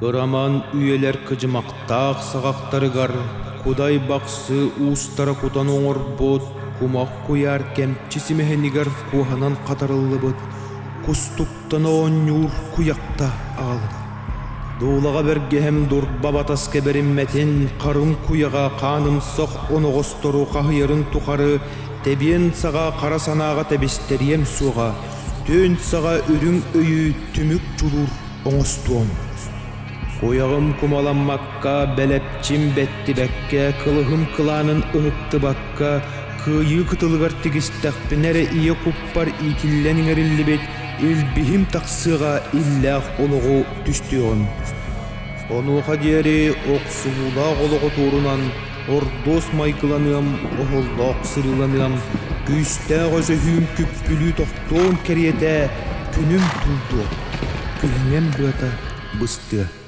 Кыраман үйэлэр кыдьымахтаах саҕахтарыгар кудай бахсы уустара кутан оҥорбут кумах куйаар кэмчи симэһинигэр куоһанан хатарыллыбыт кустук Оттон оонньуур куйахта аҕалына. Дуулаҕа бэргэһэм дурба батас кэбэриммэтин харын куйаҕа хааным сох оноҕостору хаһыйарын тухары тэбиэн саҕа хара санааҕа тэбистэриэм суоҕа түөн саҕа үрүҥ өйү түмүк дьулуур оҥостуом. Куйаҕым кумаламмакка, бэлэпчим бэттибэккэ, кылыһым кылаанын ыһыктыбакка Кыайыы кытылыгар тигистэхпинэ эрэ ийэ куппар иитиллэн иҥэриллибит илбиһим тахсыаҕа иллээх олоҕу түстүөҕүм. Онуоха диэри охсуһуулаах олоҕу туорунан ордуос майгыланыам, оһоллоох сырыыланыам, күүстээх өсөһүүм күппүлүү тохтуон кэриэтэ күнүм туллуо, күһүҥҥүм быата быстыа.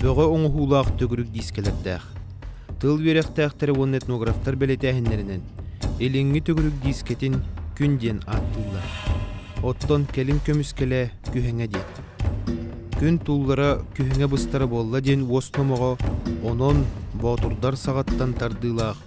Бөҕө оҥоһуулаах төгүрүк диискэлэрдээх. Тыл үөрэхтээхтэрэ уонна этнографтар бэлэтээһиннэринэн Илиҥҥи төгүрүк диискэтин күн диэн ааттыыллар. Оттон кэлин көмүскэлэ күһэҥэ диэт. Күн туллара күһэҥэ быстара буолла диэн уос номоҕо онон боотурдар саҕаттан тардыылаах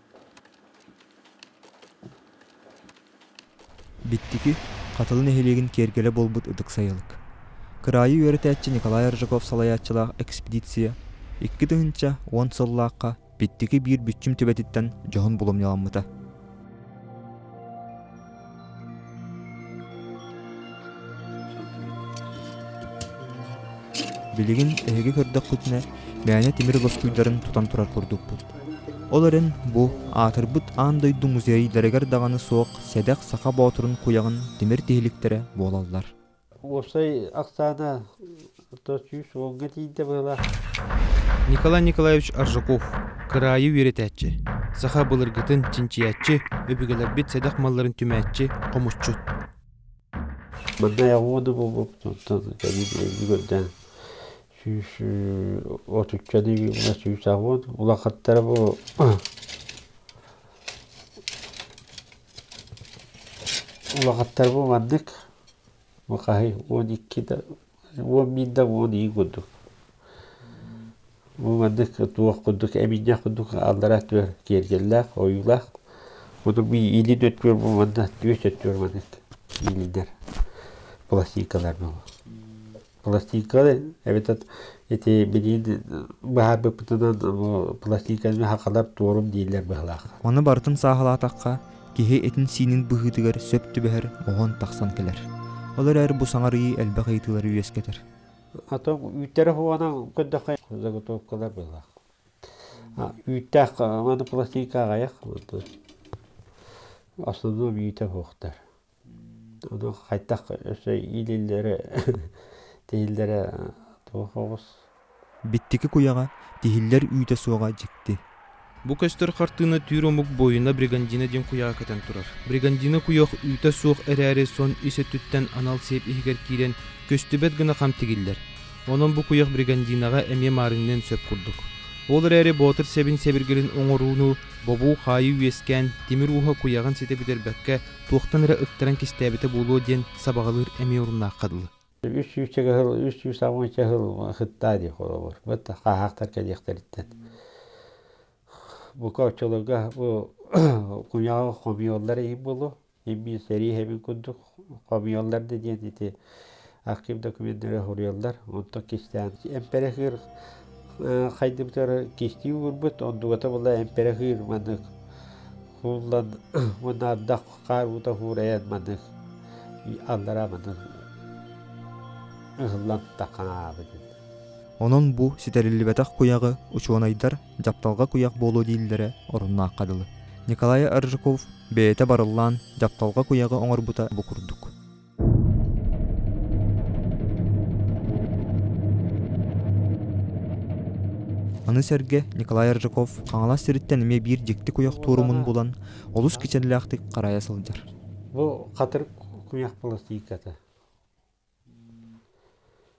Биттики Хатылы нэһилиэгин киэргэлэ буолбут ытык сайылык. Кыраайы үөрэтээччи Николай Аржаков салайааччылаах экспедиция икки тыһыынча уон сыллаахха Биттики биир бүччүм түбэтиттэн дьоһун булумньаламмыта. Билигин эһиги көрдөххүтүнэ мээнэ тимир доскуйдарын тутан турар курдукпут. Ол эрэн бу аатырбыт аан дойду музейдарыгар даҕаны суох сэдэх саха боотурун куйаҕын тимир тиһиликтэрэ буолаллар. Уопсай ахсаана отто сүүс уонга тиийдэ быһылаах. Николай Николаевич Аржаков, кыраайы үөрэтээччи, саха былыргытын чинчийээччи, өбүгэлэрбит сэдэх малларын түмээччи, хомусчут. Бырдай оҕуо да буолбуппут кэлин эбии көрдөөн сүүс отуччаны мына сүүс аҕыт улахаттара бу Улахаттарбын маннык Махаһы уон икки да уон биир да уон ии курдук бу маннык туох курдук эминньэх курдук аллараа өттүгэр киэргэллээх ойуулаах мунук иилин өттүгэр бу манна түөс өттүгэр маннык иилиннэр пластинкалар буолла пластиккалар эбэтэр ити билиин быһаарбыппытынан бу пластиканы хахалар туорум дииллэр быһылаах. Маны барытын сааһылаатахха, киһи этин-сиинин быһыытыгар сөп түбэһэр оһон тахсан кэлэр. Ол эрэр бу саҥарыы элбэх ыйытыылары үөскэтэр. Ато үүттэрэ хуанан көдөхө заготовкалар быһылаах. Үүттээх аны пластика аҕайах. Основном үүтэ буохтар. Ону хайтах өссө иилиллэрэ тиһиллэрэ туох оҕус Биттики куйаҕа, тиһиллэр үүтэ суоҕа дьикти. Бу көстөр хартыына түүр омук буойуна Бригандина диэн куйаҕа көтөн турар. Бригандина куйах үүтэ суох эрээри сон ис өттүттэн анал сиэп иһигэр киирэн көстүбэт гына хам тигиллэр. Онон бу куйах Бригандинаҕа эмиэ маарынныан сөп курдук. Ол эрээри боотур сэбин сэбиргэлин оҥорууну, бобуу хаайыы үөскээн, тимир ууһа куйаҕын ситэ бүтэрбэккэ туохтан эрэ ыктаран кистээбитэ буолуо диэн сабаҕалыыр эмиэ оруннаахха дылы. Үс сүүсчэ ыһыл, үс сүүс албынча ыһыл хыттаа диэх олобор. Бат хааһахтар кэлиэхтэриттэн. Бука оччолорго бу куньаҕа хомьёллар ии болу. Иммин сэрии хэбин курдук хомьёллар да диэн ити архив документдары суруйаллар онтон кистээн эмпэрэхыыр хайдыбытар кистии уурбут ондугата була эмпэрэхыыр маннык кууллан уонна ардах хаар уута хуурайан маннык аллараа маннык ыһыллан таханаабыт онон бу ситэриллибэтэх куйаҕы учуонайдар дьапталга куйах буолуо дииллэрэ оруннаахха дылы николай аржаков бэйэтэ барыллаан дьапталга куйаҕы оҥорбута бу курдук Аны сэргэ Николай Ржаков Хаҥалас сириттэн эмиэ биир дьикти куйах туорумун булан олус кичэллээхтик харайа сылдьар. Бу хатыр куйах баластыйката.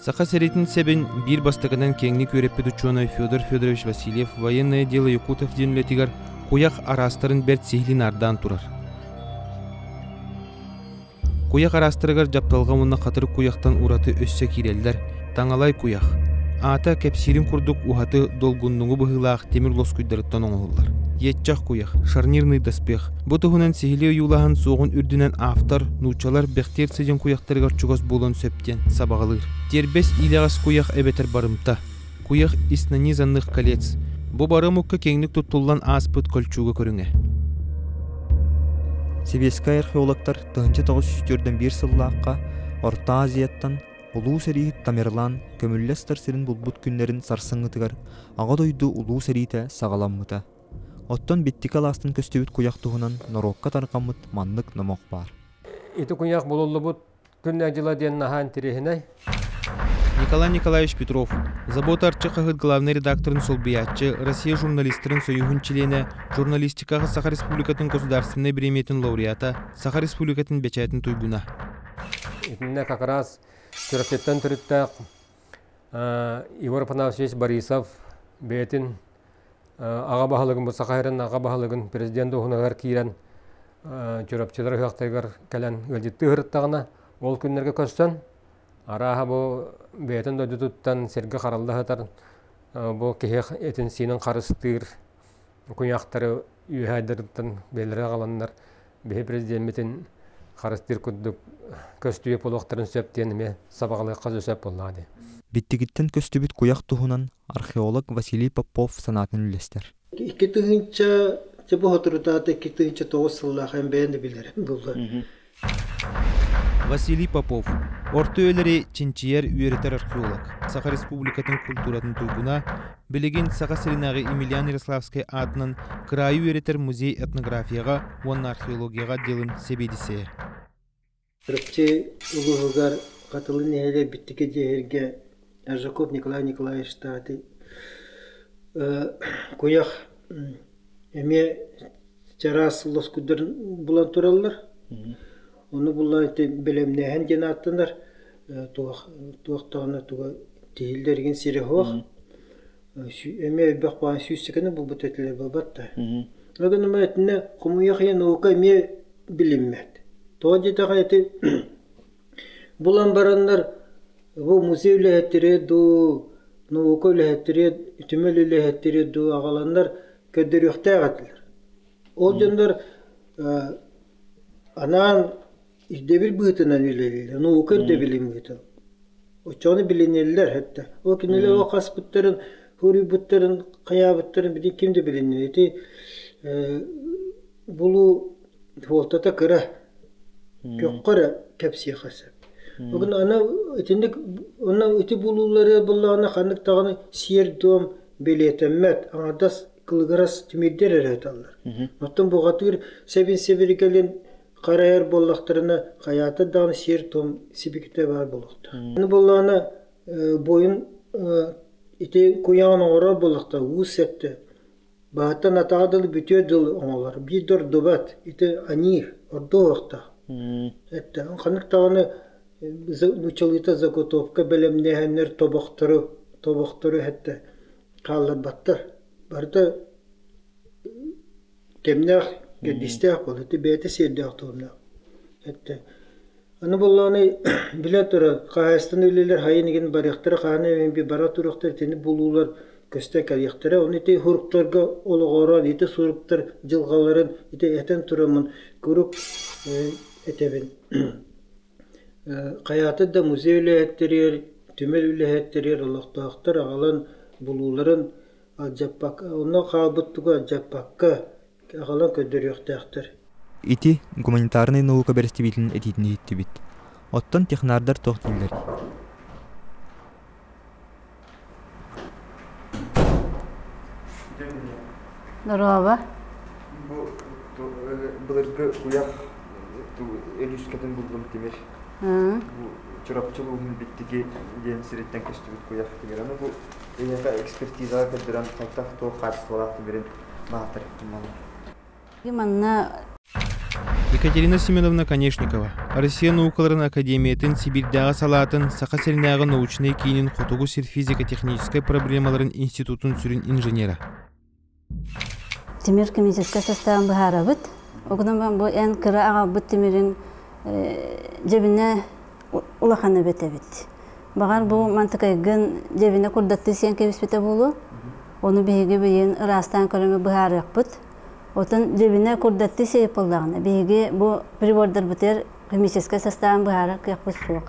Саха сэриитин сэбин биир бастакынан киэҥник үөрэппит учуонай Федор Федорович Васильев военное дело Якутов диэн үлэтигэр куйах араастарын бэрт сиһилии наардаан турар. Куйах араастарыгар дьапталҕа уонна хатырык куйахтан ураты өссө киирэллэр таҥалай куйах. Аата кэпсиирин курдук уһаты долгуннугу быһыылаах темир лоскуйдарыттан оҥоһуллар. Иэтчэх куйах, шарнирный доспех, Бу туһунан сиһилии ойуулаһан суоҕун үрдүнэн автор нууччалар Бэхтиэр сыдьын куйахтарыгар чугас буолан сөп диэн сабаҕалыыр. Тиэрбэс иилэҕэс куйах эбэтэр барымта. Куйах ис нанизанных колец. Бу барымукка киэҥник туттуллан ааспыт кольчуга көрүҥэ. Сибиэскэй археологтар 1904 сыллаахха Орто Азияттан Улуу сэрииһит Тамерлан көмүллэс сир сирин булбут күннэрин сарсыҥҥытыгар Аҕа дойду Улуу сэриитэ саҕаламмыта. Оттон биттики алаастан көстүбүт куйах туһунан норуокка тарҕаммыт маннык номох баар. Ити куйах булуллубут күннэ-дьыла диэн наһаа интириэһинэй. Николай Николаевич Петров, «Забота Арчы» хаһыат главнай редакторын солбуйааччы, Россия журналистарын союһун чилиэнэ, журналистикаҕа Саха Республикатын государственнай бириэмийэтин лауреата, Саха Республикатын бэчээтин туйгуна. Итиннэ как раз Чурапчыттан төрүттээх Егор Афанасьевич Борисов бэйэтин Аҕа баһылыгым бу саха сирин аҕа баһылыгын президент дуоһунаһыгар киирэн Чурапчылар үһүөхтэригэр кэлэн ыалдьыттыы сырыттаҕына ол күннэргэ көрсөн арааһа бу бэйэтин дойдутуттан сиргэ харалла сытар бу киһи этин-сиинин харыстыыр куйаахтары үөһээдэртэн бэлэри аҕаланнар биһи президеммитин харыстыыр курдук көстүбэт буолуохтарын сөп диэн эмиэ сабаҕалыахха сөп буоллаҕа дии. Биттигиттэн көстүбүт куйах туһунан археолог Василий Попов санаатын үллэстэр. Икки тыһыынча Чэ бу соторутаата икки тыһыынча тоҕус сыллаах эн бэйэн да билэрим булла. Василий Попов орто үйэлэри чинчийэр үөрэтэр археолог Саха Республикатын культуратын туйгуна билигин Саха сиринээҕи Емельян Ярославский аатынан кыраайы үөрэтэр музей этнографияҕа уонна археологияҕа отделын сэбиэдиссэйэ Арчы улууһугар Хатылы нэһилиэк дьиэһиргэ Аржаков Николай Николаевич Таати куйах эмиэ чараас лоскуйдарын булан тураллар. Ону булан бэлэмнээһин диэн ааттанар. Туох туох даҕаны туга тиһиллэр сирэ суох. эмиэ элбэх баҕа сүүсчэкэни булбут этилэр буолбат да. Ол гынан итиннэ хомуйах ийэ наука эмиэ билиммэт. Тоҕо диэтэҕэ ити булан бараннар бу музей үлэһиттэрэ дуу, наука үлэһиттэрэ, түмэл үлэһиттэрэ дуу аҕаланнар көрдөрүөхтээх этилэр. Ол дьоннор анаан Ирдэбил быытынан үлэлииллэр, наука ирдэбилин быытынан. Оччоҕуна билинэллэр этэ. Ол кинилэр ол хаспыттарын, хоруйбуттарын, хайаабыттарын били ким да билиннэ. Ити э, булуу суолтата кыра. Көххө эрэ кэпсиэхэ сөп. Бүгүн аны итинник онно ити булуулары буллаҕына ханнык даҕаны сиэр-туом билиэтэммэт, аҥардас кылыгырас тимирдэр эрэ аталлар. Оттон буҕатыыр сэбин сэбиргэлин Харайар буоллахтарына, хайаатар даҕаны сиэр-туом сибикитэ баар буолуохтаах. Аны буоллаҕына, буойун ити куйаҕын оҥорор буоллахтар уу сэптэ. Баһыттан атаҕа дылы бүтүө дылы оҥолор. Биир да ордубат. Ити аньыыр, ордуохтаах. Эттээн ханнык даҕаны нучалыыта заготовка бэлэмнээһиннэр тобохтору тобохтору эһэттэ хаалларбаттар. Барыта кэмнээх, кэрдиистээх буолуо, бэйэтэ сиэрдээх туомнаах. Эттэ аны буоллаҕына билэн турар хаһаайыстыбаны үлэлэр хайын игин барыахтара хаһан эмиби бара туруохтар итини булуулар көстө кэлиэхтэрэ оны ити хуруктарга олоҕороон ити суруктар дьылҕаларын ити этэн тураммын куруук этэбин Хайаата да музей үлэһит тэрийэр, түмэл үлэһит тэрийэр олохтоохтор аҕалан булууларын алдьаппакка, онно хаалбыт тугу алдьаппакка аҕалан көрдөрүөхтээхтэр. Ити гуманитарнай наука бэрэстэбиитэлин этиитин иһиттибит. Оттон технардар туох дииллэрий? Дороба. Былыргы куйах Өлүскэтин булгум тимир. Чурапчы улууһун биттиги диэн сириттен көстүбүт куйах тимираны бу эйэхэ экспертизаға көрдөрөн хайтах туох хаачыстыбалаах тимирин баатар Екатерина Семеновна Конешникова, Россия наукаларын академиятын Сибиирдээҕи салаатын Саха сиринээҕи научнай киинин Хотугу сир физико-техническэй проблемаларын институтун сүрүн инженера. Тимир коммунистическай состав быһаарабыт. Огноман бу эн кыра аҕабыт тимирин дебине улахан өбөт эбит. Бағар бу мантыкайгын дебине курдатты сен кебиспите болу. Оны биһиги биyin ырастан көрөңө быһаарыахпыт. Отон дьэбинэ курдатты сыйпыллаҕына, биһиги бу прибордарбытыгар химическэй састаабын быһаарар кыахпыт суох.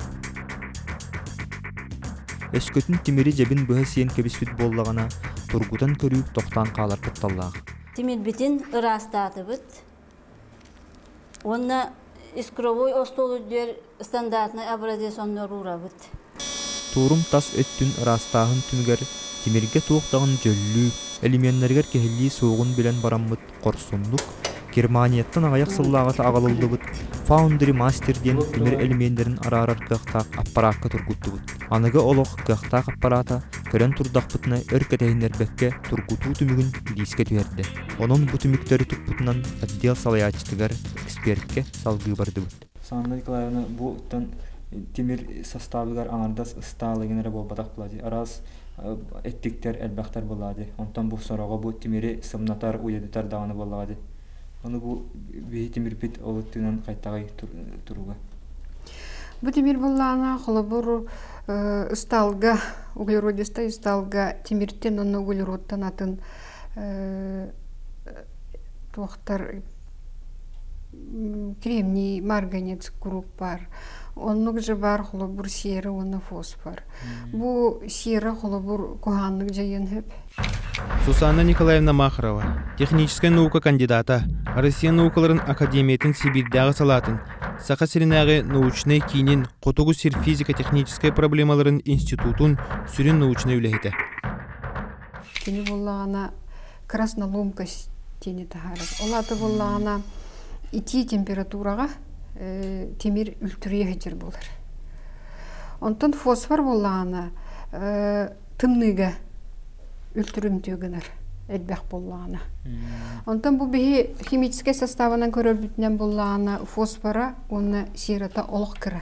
Өскөтүн тимири дьэбин быһа сиэн кэбиспит буоллаҕына, тургутан көрүүк тохтоон хаалар кутталлаах. Тимирбитин ыраастаатыбыт уонна искровой остуолу диэр Стандартнай образец оннуруурабыт. Туорум тас өттүн ыраастааһын түмүгэр тимиргэ туох даҕаны дьөллүү, элеменнэригэр киһилии суоҕун билэн бараммыт хорсуннук, Германияттан аҕыйах сыллааҕыта аҕалыллыбыт Foundry Master диэн тимир элеменнэрин араарар кыахтаах аппараакка тургуттубут. Аныгы олох кыахтаах аппараата көрөн турдахпытына өр кэтэһиннэрбэккэ тургутуу түмүгүн бириискэ түһэрдэ. Онон бу түмүктэри туппутунан отдел салайааччытыгар, эксперткэ салгыы бардыбыт. Саванна Николаевна бу оттон тимир састаабыгар аҥардас ыстаал игин эрэ буолбатах була дии араас эттиктэр элбэхтэр буоллаҕа дии онтон бу сороҕо бу тимири сымнатар уйадытар даҕаны буоллаҕа дии ону бу биһи тимирбит ол өттүнэн хайтаҕай туруга бу тимир буллаана холобур ыстаалга углеродистай ыстаалга тимиртен онно углеродтан атын Туохтар кремний марганец куруук баар оннук дьыбаар холобур сиэрэ уонна фосфор бу сиэрэ холобур куһааннык дьайыан сөп Сусанна Николаевна Махарова техническэй наука кандидата Россия наукаларын академиятын Сибиирдээҕи салаатын Саха сиринээҕи научнай киинин Хотугу сир физико техническэй проблемаларын институтун сүрүн научнай үлэһитэ Кини буллаҕына красноломка тиини таһаарар. Ол аты буллаҕына итии температураҕа тимир үлтүрүйэ сылдьар буолар. Онтон фосфор буллаҕына тымныыга үлтүрүмтүө гынар элбэх буоллаҕына. Онтон бу биһи химическэй составынан көрөрбүтүнэн буллаҕына фосфора уонна сирота олох кыра.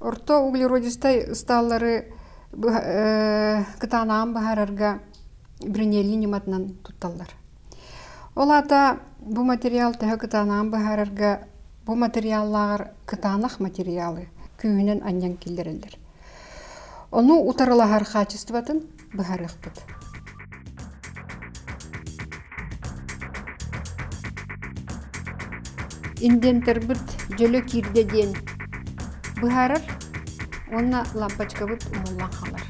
Орто углеродистай ыстааллары кытаанаан быһаарарга бринелли ньыматынан тутталлар. Ол аата бу материал төһө кытаанаан быһаарарга бу материаллааҕар кытаанах материалы күүһүнэн анньан киллэрэллэр. Ону утарылаһар хаачыстыбатын быһаарыахпыт индиэнтэрбит дьөлө киирдэ диэн быһаарар уонна лампочкабыт умуллан хаалар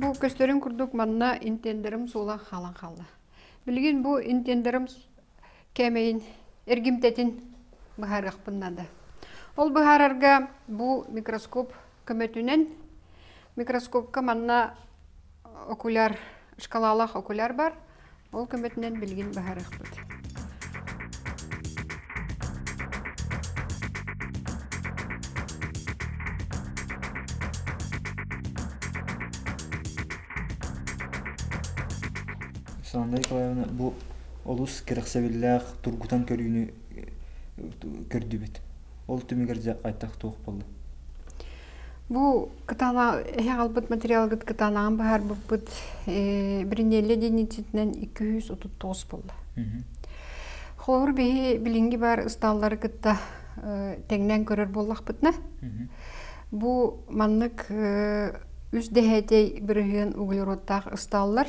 Бу көстөрүн курдук манна интендерим суола хаалан хаалла. Билигин бу интендерим кээмэйин эргимтэтин быһаарыахпын наада. Ол быһаарарга бу микроскоп көмөтүнэн микроскопка манна окуляр шкалалах окуляр бар ол көмөтүнэн билигин баһарыахпыт Сандра Николаевна бу олус кэрэхсэбиллээх тургутан көрүүнү көрдүбүт ол түмүгэр дьэ хайдах туох буолла бу кытаанах эһи аҕалбыт материалгыт кытаанаҕын быһаарбыппыт бринелле диницитинэн икки жүз отут тоҕус буолла холобур биһи билинги бар ыстааллары кытта тэҥнэн көрөр буоллахпытына бу маннык үс дэһээтэй бырыһыан углеродтаах ыстааллар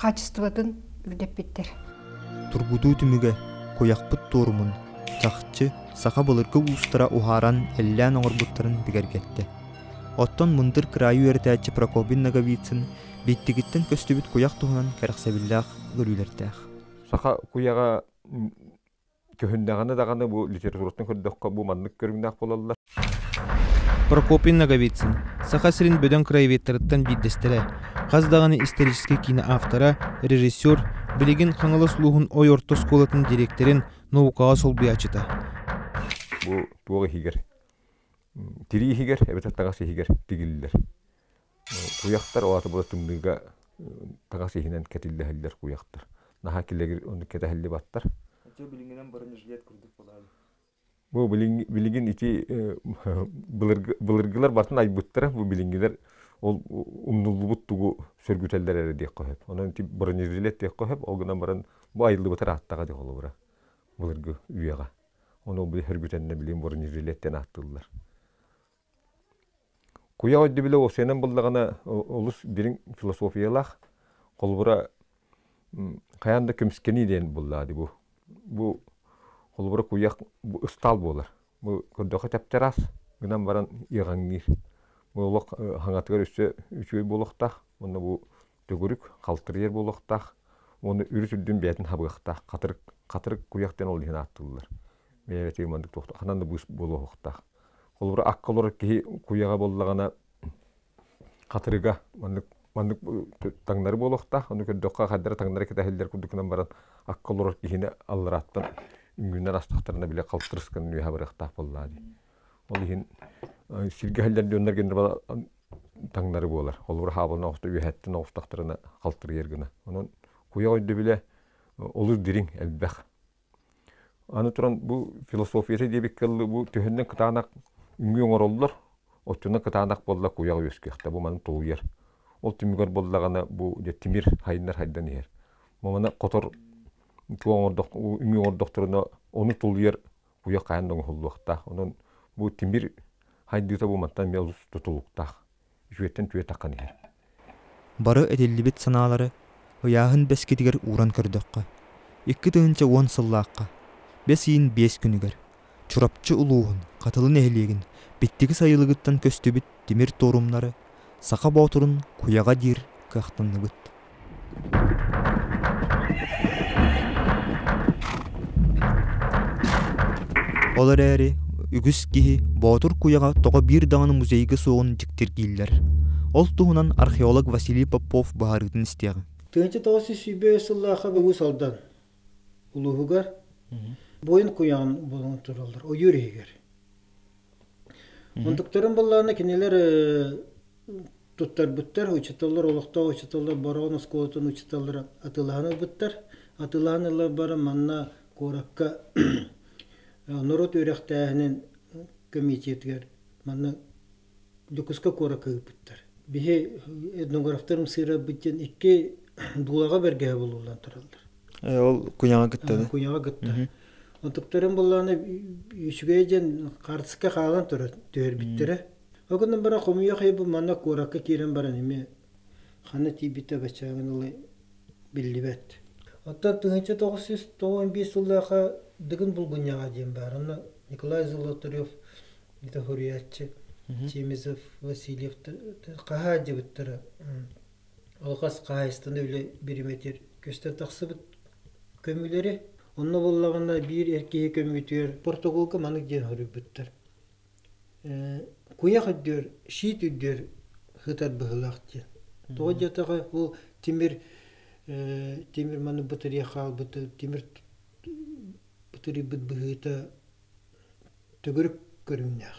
хаачыстыбатын үрдэппиттэр. Тургутуу түмүгэ куйахпыт туорумун чахчы саха былыргы уустара уһааран эллээн оҥорбуттарын бигэргэттэ. Оттон мындыр кыраайы үөрэтээччи Прокопин Ноговицын биттигиттэн көстүбүт куйах туһунан кэрэхсэбиллээх көрүүлэрдээх. Саха куйаҕа Көһүннэҕинэ даҕаны бу литератураттан көрдөххө бу маннык көрүҥнээх буолаллар. Прокопий Ноговицын Саха сирин бөдөҥ краеведтарыттан биирдэстэрэ, хас даҕаны историческай киинэ автора, режиссер, билигин Хаҥалас улууһун Ой орто оскуолатын дириэктэрин наукаҕа солбуйааччыта. Бу туох иһигэр? Тирии иһигэр эбэтэр таҥас иһигэр тигиллэр. Куйахтар ол аата була тымныыга таҥас иһинэн кэтиллэһэллэр куйахтар. Наһаа килэгир оннук кэтэһиллибэттэр. Дьэ билиҥҥинэн бронежилет курдук буолаары. Бу билиҥ билигин ити былыргы былыргылар барытын айбыттара бу билиҥҥилэр ол умнуллубут тугу сөргүтэллэр эрэ диэххэ сөп. Онон ити бронежилет диэххэ сөп, ол гынан баран бу айыллыбыта ырааттаҕа дии холобура былыргы үйэҕэ. Ону бу сөргүтэннэр билигин бронежилет диэн ааттыыллар. Куйах өйдөбүлэ уосуйанан буллаҕына олус дириҥ философиялаах, холобура хайаан да көмүскэнии диэн буллаа дии бу. Бу холобура куйах ыстаал буолар. Бу көрдөххө тэптэрас гынан баран иэҕэҥниир. Бу олох хаҥатыгар өссө үчүгэй буолуохтаах. Уонна бу төгүрүк халтырыйар буолуохтаах уонна үрүт үрдүн бэйэтин хабыахтаах хатырык хатырык куйах диэн ол иһин ааттыыллар бэйэтигэр маннык туохта ханан да быыс буолуохтаах холобура акка олорор киһи куйаҕа буоллаҕына хатырыга маннык маннык таҥнары буолуохтаах ону көрдөххө хардара таҥнара кэтэһиллэр курдук гынан баран акка олорор киһини алларааттан үҥүүнэн астахтарына бile халтырысканын үөһэ барыахтаах буоллаа дии Ол иһин сиргэ иһэллэр дьоннор генерала таҥнары буолар. Холобура хаабылын оҕуста үөһэттэн оҕустахтарына халтырыйар гына. Онон куйах өйдөбүлэ олус дириҥ, элбэх. Аны туран бу философията диэбиккэ дылы бу төһөннөн кытаанах үҥүү оҥороллор, оччонон кытаанах буолла куйах үөскүөхтэ. Бу маны тулуйар. Ол түмүгэр буоллаҕына бу дьэ тимир хайыннар хайдан иһэр. Бу маны хотор үҥүү оҥордохторуна ону тулуйар куйах хайан да оҥоһуллуохтаах. Онон бу тимир хайдыыта бу мантан бэл тутулуктаах. Үтүөттэн түөтэххин иһэр. Бары этиллибит санаалары ыйааһын бэскитигэр ууран көрдөххө, икки тыһыынча уон сыллаахха, бэс ыйын биэс күнүгэр, Чурапчы улууһун Хатылы нэһилиэгин Биттиги сайылыгыттан көстүбүт тимир туорумнары Саха Боотурун куйаҕа диир кыахтанныбыт Ол эрээри үгүс киһи Боотур куйаҕа тоҕо биир даҕаны музейга суоҕун дьиктиргииллэр. Ол туһунан археолог Василий Попов быһаарыытын истиэҕиҥ. тыһыынча тоҕус жүз сүүрбэ үс сыллаахха Уус Алдан улууһугар Буойун куйаҕын булан тураллар ойуур иһигэр. Мунтуктарын баллаана кинилэр туттарбыттар учеталлар олохтоох учеталлар Бороҕон оскуолатын учеталлара атыылаһан ылбыттар. Атыылаһан ыла баран манна куоракка норуот үөрэхтээһинин кэмитиэтигэр манна Дьокуускай куоракка ыыппыттар. Биһи этнографтар мсыырарбыт диэн икки дуулаҕа бэргэһэ булуллан тураллар. ол куйаҕа кытта да куйаҕа кытта ытыктарын буллааны үчүгэй диэн хартыска хаалан турар түһэрбиттэрэ ол гынан баран хомуйах ый бу манна куоракка киирэн баран эми ханна тиийбитэ баччааҕын ылы биллибэт оттон тыһынча тоҕус жүз тоҕон биир сыллааха дыгын булгунньаҕа диэн баар онно николай золоторев литофуриатчы чемизов васильев хаһаадьыбыттара алҕас хаһаайыстыны үлэ биримэтир көстөн тахсыбыт көмүлэри онно буоллаҕына биир эр киһи көмүтүөр португалга маннык диэн хоруйбуттар куйах үрдүөр шиит үрдүөр сытар быһыылаах диэн тоҕо диэтаҕа ол тимир тимир маны бытырыйа хаалбыта тимир бытырыйбыт быһыыта төгүрүк көрүҥнээх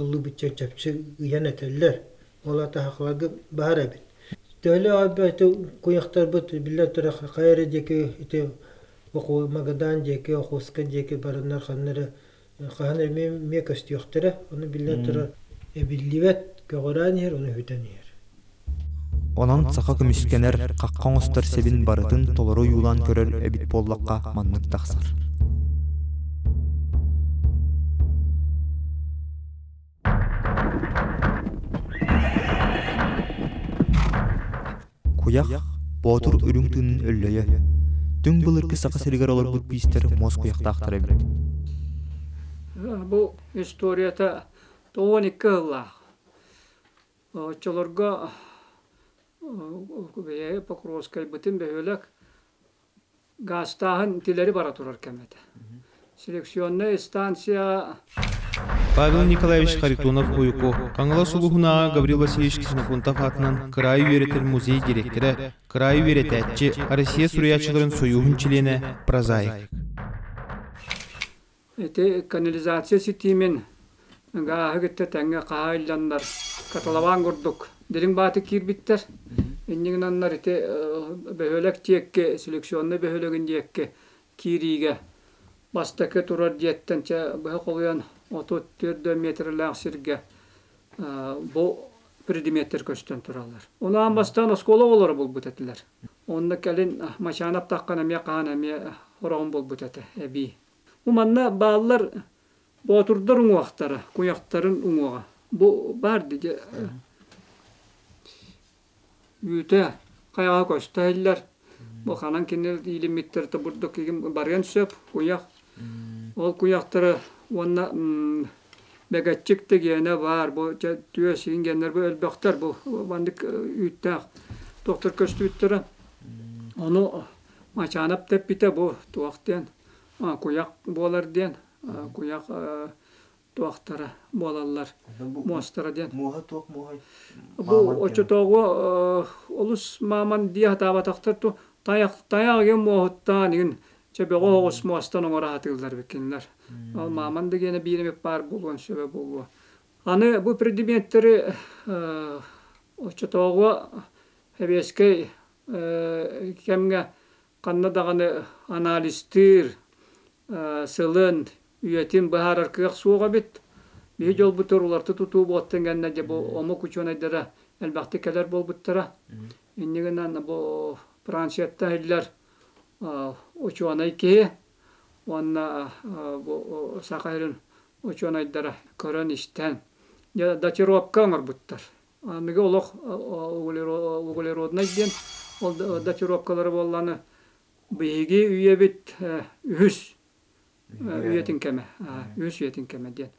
Ыллыбычча чэпчик ыйан этэллэр, ол атаһахаларга баар эбит. Төһөлөөх өлбөөтө куйахтарбыт биллэн турар хайа эрэ диэки ити оку Магадан диэки, Охуска диэки бараннар ханна эрэ хаһан эмиэ эмиэ көстүөхтэрэ, ону биллэн турар эбиллибэт, көҕүрээн иһэр, ону үһүтэн иһэр Онон саха көмүскэнэр, хахха оҥостор сирин барытын толору ойуулаан көрөр эбит буоллахха маннык тахсар Куйах боотур үрүҥ тыынын өллөйө Түҥ былыргы Саха сиригэр олорбут биистэр муос куйахтаахтара эбит Бу историята тоҕуон икки сыллаах Оччолорго Покровскайбытын бөһүөлэк гаастааһын итилэри бара турар кэм этэ. Селекционная станция Павел Николаевич Харитонов Уйко, Хаҥалас улууһунааҕы Гаврил Васильевич Ксенофонтов аатынан кыраайы үөрэтэр музей дириэктэрэ, кыраайы үөрэтээччи, Россия суруйааччыларын сойууһун чилиэнэ, прозаик. Ити канализация ситиимин гааһы кытта тэҥҥэ хаһаайылланнар каталаваан курдук дириҥ баатык киирбиттэр. Иннигинаннар ити бөһүөлэк диэки, селекционнай бөһүөлэгин диэки киириигэ бастакы турар дьиэттэн чэ быһа холуйан отут түөрт да метрлээх сиргэ бу предметтэр көстөн тураллар. Ону аан бастаан оскуола оҕолоро булбут этилэр. Онно кэлин Мачаан аптаххан эмиэ хаһан эмиэ хороҕун булбут этэ эбии. Бу манна бааллар боотурдар уҥуохтара, куйахтарын уҥуоҕа. Бу баар дии үүтэ, хайаҕаһа көстө иһиллэр. Бу ханан кини иилиммиттэр да бурдук кигим барыан сөп, куйах. Ол куйахтары уонна бэгэччик дэгиэнэ баар, бу түөс ингеннэр бу өлбөхтөр бу маннык үүттээх тохтор көстүбүттэрэ. Ону Мачаанап да эппитэ бу туох диэн куйах буолар диэн куйах туохтара буолаллар муостара диэн муоһа туох муоһай бу оччотооҕу олус мааман дии сатаабатахтар ту тайах тайах игин муоһуттаан игин чөбөҕө оҕус муостан оҥоро сатыыллар бикинлэр ол мааман да гиэнэ биирэми паар булуон сөбө булуо аны бу предметтэри оччотооҕу хэбиэскэй кэмҥэ ханна даҕаны анализтыыр, сылын, үйэтин быһаарар кыах суох эбит. Биһи дьолбутугар уларыта тутуу буолтун кэннэ дьэ бу омук учуонайдара элбэхтик кэлэр буолбуттара. Иннигинэн бу Францияттан иһиллэр учуонай киһи уонна бу Саха сирин учуонайдара көрөн-истэн датировка оҥорбуттар. Мигэ олох углероднай диэн ол датировкалары буолланы биһиги үйэбит үһүс үйэтин кэмэ үһүс үйэтин кэмэ диэн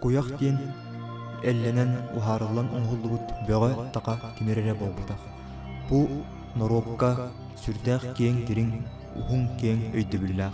куйах диэн эллэнэн уһаарыллан оҥоһуллубут бөҕө таха кимир эрэ буолбутах бу норуокка сүрдээх киэҥ дириҥ уһун киэҥ өйдөбүллээх